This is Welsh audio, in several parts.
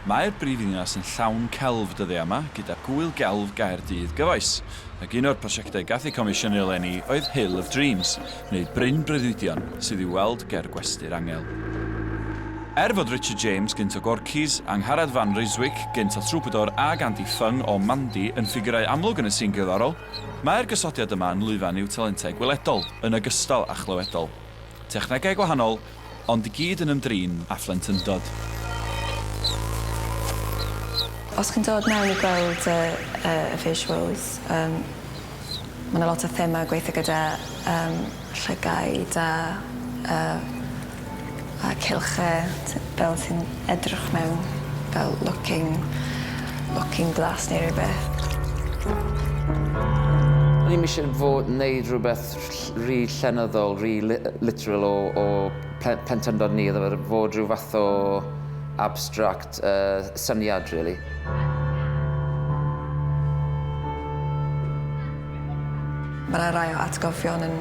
Mae'r brifddinas yn llawn celf dyddiau yma, gyda Gŵyl Gelf Gaerdydd gyfoes, ac un o'r prosiectau gath eu comisiynu eleni oedd Hill of Dreams, neu Bryn Breuddwydion, sydd i'w weld ger Gwesty'r Angel. Er fod Richard James, gynt o Gorky's, Angharad Van Ryswyk, gynt o Troubadour, ac Andy Fung o Mandy yn ffigurau amlwg yn y sîn gerddorol, mae'r gosodiad yma yn lwyfan i'w talentau gweledol, yn ogystal â chlywedol. Technegau gwahanol, Ond i gyd yn ymdrin â phlentyndod. Os chi'n dod mewn i gweld y y visuals yym ma' 'na lot o thema gweithio gyda yym llygaid a a a cylch y t- fel sy'n edrych mewn fel looking looking glass neu rywbeth. O'n i'm isie fo' neud rwbeth ll- rhy llenyddol, rhy li- literal o o plen- plentyndod ni iddo fe fod rhyw fath o abstract yy syniad rili. Ma' 'na rai o atgofion yn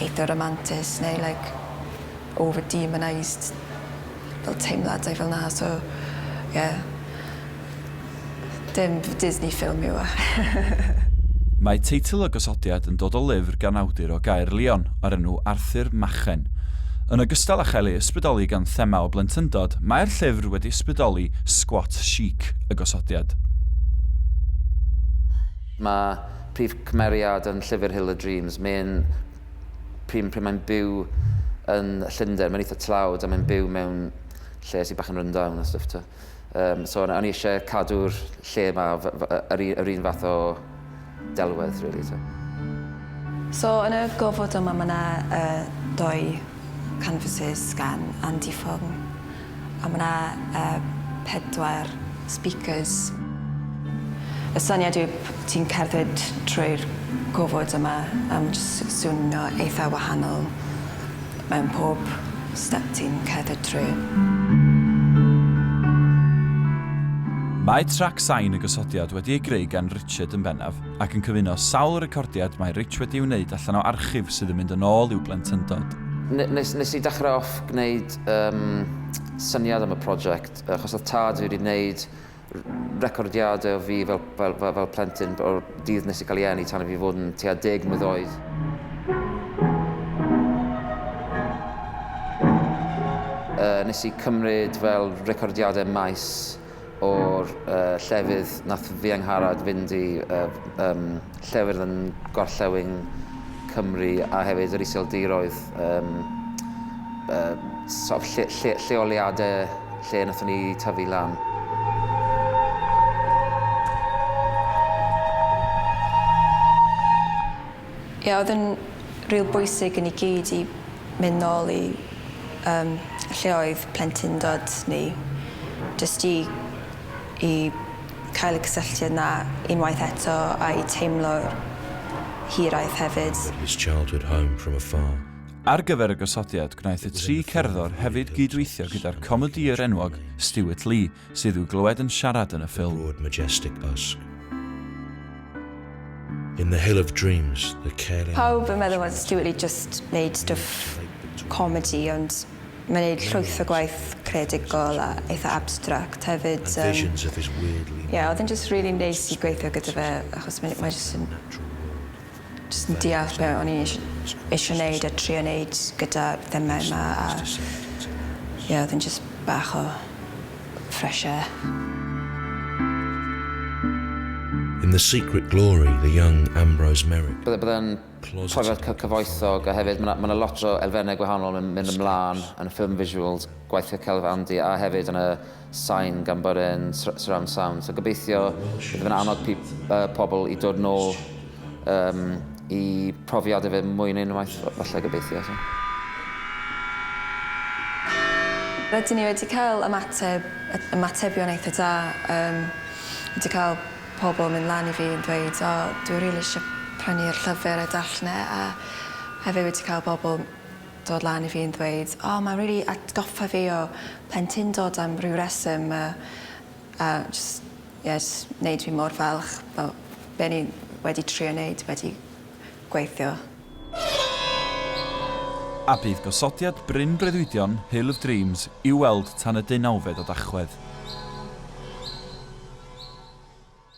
eitha ramantus neu like over demonised. fel teimladau fel 'na so ie. Dim Disney film yw e. Mae teitl y gosodiad yn dod o lyfr gan awdur o Gaerlion o'r enw Arthur Machen. Yn ogystal â chael ei ysbrydoli gan thema o blentyndod, mae'r llyfr wedi ysbrydoli sgwot chic y gosodiad. Mae prif cymeriad yn llyfr Hill of Dreams, Maen, pryd, pryd mae'n byw yn Llundain, mae'n eitha tlawd a mae'n byw mewn lle sy'n bach yn rundown a stuff to. Um, so o'n i eisiau cadw'r lle yma yr, yr un fath o delwedd, really. So. so yn y gofod yma mae yna uh, doi canvases gan Andy Fong. A ma' 'na yy pedwar speakers. Y syniad yw p- ti'n cerdded trwy'r gofod yma a ma' jyst s- swnio eitha wahanol mewn pob step ti'n cerdded trwy. Mae trac sain y gosodiad wedi ei greu gan Richard yn bennaf, ac yn cyfuno sawl recordiad mae Rich wedi ei wneud allan o archif sydd yn mynd yn ôl i'w blentyndod. N- nes- nes i dechre off gwneud Yym, syniad am y prosiect, achos oedd tad fi wedi gwneud recordiadau o fi fel, fel, fel, fel plentyn o'r dydd nes i cael ei enni tan i fi fod yn tua deg mlwydd oed. Yy, nes i cymryd fel recordiadau maes o'r llefydd nath fi Angharad fynd i llefydd yn gorllewin Cymru a hefyd yr iseldiroedd yym sort of lle lle lleoliade lle nathon ni tyfu lan. Ia oedd yn ril bwysig i ni gyd i mynd nôl i yym lle oedd plentyndod ni jyst i i cael y cysylltiad 'na unwaith eto a'i teimlo'r hiraeth hefyd. But his childhood home from afar. Ar gyfer y gosodiad gwnaeth y tri cerddor hefyd gyd-weithio gyda'r comedïwr enwog Stewart Lee sydd i'w glywed yn siarad yn y ffilm. Broad majestic busk. In the hill of dreams, the caring... Pawb yn meddwl fod Stewart Lee jyst wneud stwff comedi ond mae'n wneud llwyth o gwaith creadigol a eitha abstract hefyd. Yym, ie, oedd e'n jyst rili neis i gweithio gyda fe achos mae mae jyst yn Jyst yn deall be' o'n i eish- eisio neud a trio neud gyda'r themâu 'ma a ie o'dd e'n jyst bach o fresh air. In the secret glory the young Ambrose Merrick, Bydde bydde'n profiad cy- cyfoethog a hefyd ma' 'na ma' 'na lot o elfenne gwahanol yn mynd ymlan yn y ffilm visuals gwaith Raquel Vandi a hefyd yn y sain gan bod e'n surround sound. So gobeithio bydd yn annog pobl i dod nôl um, i profiadau fe mwy yn unwaith, falle gobeithio. So. Rydyn ni wedi cael ymateb, ymatebion eitha da. Um, wedi cael pobl yn mynd lan i fi yn dweud, o, oh, dwi'n rili really eisiau prynu'r llyfr a darllen e, a hefyd wedi cael pobl dod lan i fi yn ddweud o mae'n rili atgoffa fi o plentyndod am ryw reswm a a jyst ie jyst neud fi mor falch fel be' o'n i wedi trio neud wedi gweithio. A bydd gosodiad bryn breuddwydion Hill of Dreams i'w weld tan y deunawfed o Dachwedd.